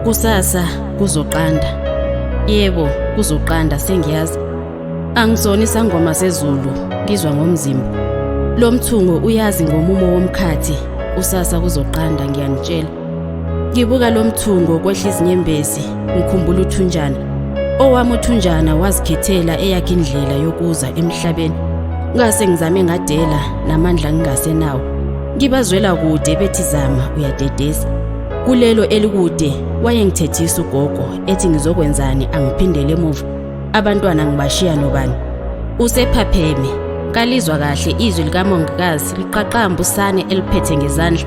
Kusasa kuzoqanda. Yebo, kuzoqanda sengiyazi. Angisona isangoma sezulu, ngizwa ngomzimba. Lo mthungo uyazi ngomumo womkhathi. Kusasa kuzoqanda ngiyanitshela. Ngibuka lo mthungo kwehla izinyembezi ngikhumbula uthunjana. Owami uthunjana wazikhethela eyakhe indlela yokuza emhlabeni. Ngase ngizame ngadela namandla ngingasenawo. Ngibazwela kude bethi zama uyadedesa. Kulelo elikude wayengithethisa ugogo ethi ngizokwenzani angiphindele emuva. Abantwana ngibashiya nobani. Usephapheme kalizwa kahle izwi likamongikazi liqaqamba usane eliphethe ngezandla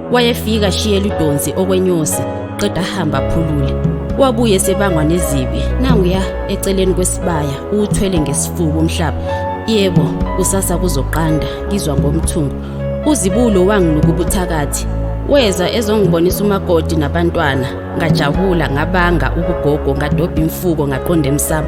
Wayefika shiyela idonsi okwenyosi qeda hamba aphulule. Wabuye sebangwa nezibi nanguya eceleni kwesibaya uthwele ngesifuba umhlaba. Yebo kusasa kuzoqanda ngizwa ngomthungo. Uzibulo wangiluka ubuthakathi weza ezongibonisa umakoti nabantwana ngajabula ngabanga ubugogo ngadobha imfuko ngaqonda emsamo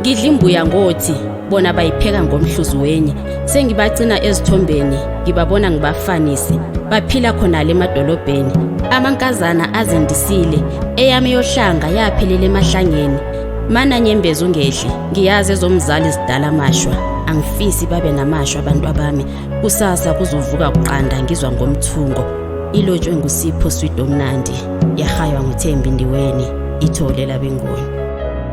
Ngidla imbuya ngothi bona bayipheka ngomhluzi wenye. Sengibacina ezithombeni, ngibabona ngibafanise. Baphila khona le madolobheni. Amankazana azendisile, eyami yohlanga yaphelela emahlangeni. Mana nyembezi ungedli, ngiyazi ezomzali zidala mashwa. Angifisi babe namashwa abantu abami. Kusasa kuzovuka kuqanda ngizwa ngomthungo. Ilotshwe ngusipho sweet omnandi. Yahaywa nguthembi ndiweni. Ithole labengoni.